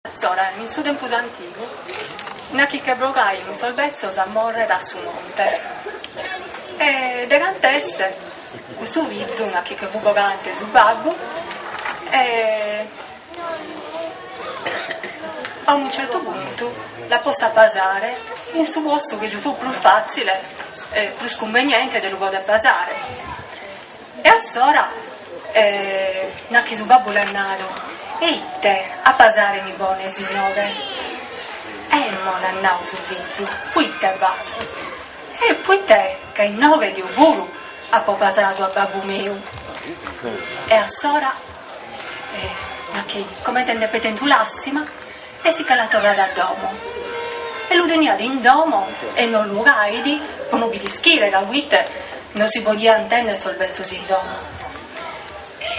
Assora, in su tempus antigu, nachi che bogaian sos betzos a morrer a su monte. E de cant'est custu fizu, nachi che fu bogante su babbu, e a unu certu puntu l'at postu a pasare in su postu chi ddi fu prus fatzile e prus cummeniente de ddu poder pasare. E assora nachi su babbu l'at nadu, E ite a pasare mi bones inoghe? E emmo l'at nadu su fizu, Poite ba? E poite ca inoghe deu puru apo pasadu a babbu meu. E assora nachi comente nd'epet tentu làstima E si che l'at torradu a domo. E lu teniat in domo e lu cuaidi po no bi l'ischire ca poite non si podian tenner sos betzos in domo.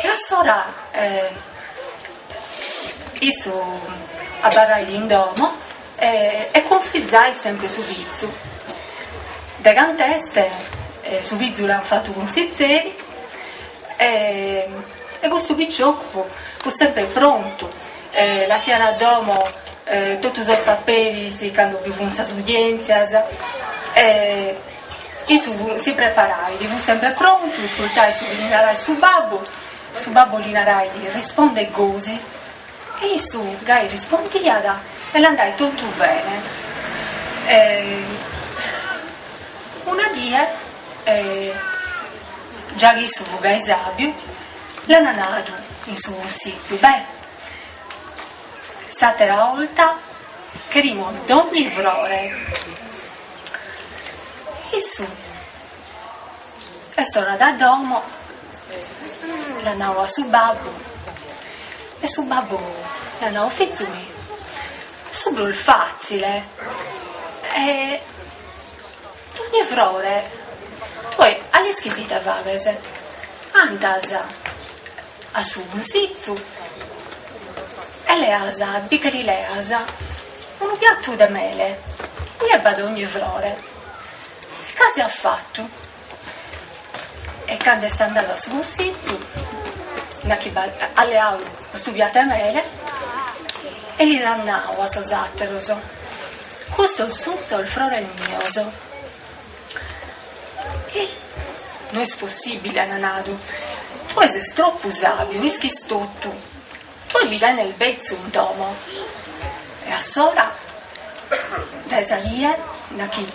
E assora e issu abarraidi in domo e e cunsizait sempre su fizu. De cant'est su fizu l'an fatu cunsizeri e e custu piciocu fut sempre prontu Atiat a domo totu sos paperis cando bi funt sas udientzias e issu si preparait, fut sempre prontu, iscurtait su chi li narait su babbu, su babbu li narait risponde gosi e issu gai rispondiat e l'andait totu bene. Una die già chi issu fut gai sàbiu L'ana nadu in su cussizu, beh, s'atera 'olta cherimus dogni frore. Issu est torradu a domo, l'at nadu a su babbu e su babbu l'at nadu, fizu mi, su prus fatzile e ogni frore, tue a l'ischis ite faghes, andas a su cussizu e leas, bi che lis leas unu piatu de mele, ue b'at ogni frore, e gasi at fatu, e cando est andadu a su cussizu nachi b'at, at leadu custu piatu 'e mele e lis at nau a sos àteros Custos sun sos frores mios. Hi! No est possibile, ant nadu. Tue ses troppu sabiu, ischis totu. Tue bi tenes betzu in domo. E assora de sa die, nachi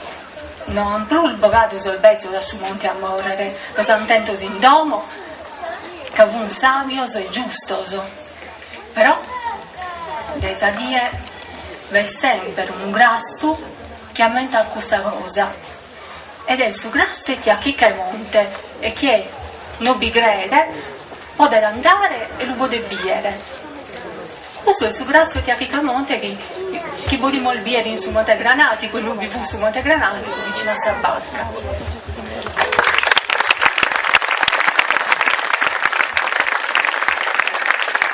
no ant prus bogadu sos betzos a su monte a morrere, los ant tentos in domo, ca fun sabios e giustos. Però de sa die b'est semper unu grastu chi ammentat custa cosa, ed est su grastu 'e tia Chica 'e Monte, e chie no bi crede podet andare e lu podet bìdere. Custu est su grastu 'e tia Chica 'e Monte chi podimus bìdere in su Monte Granàticu, e no bi fut su Monte Granàticu vicinu a sa barca.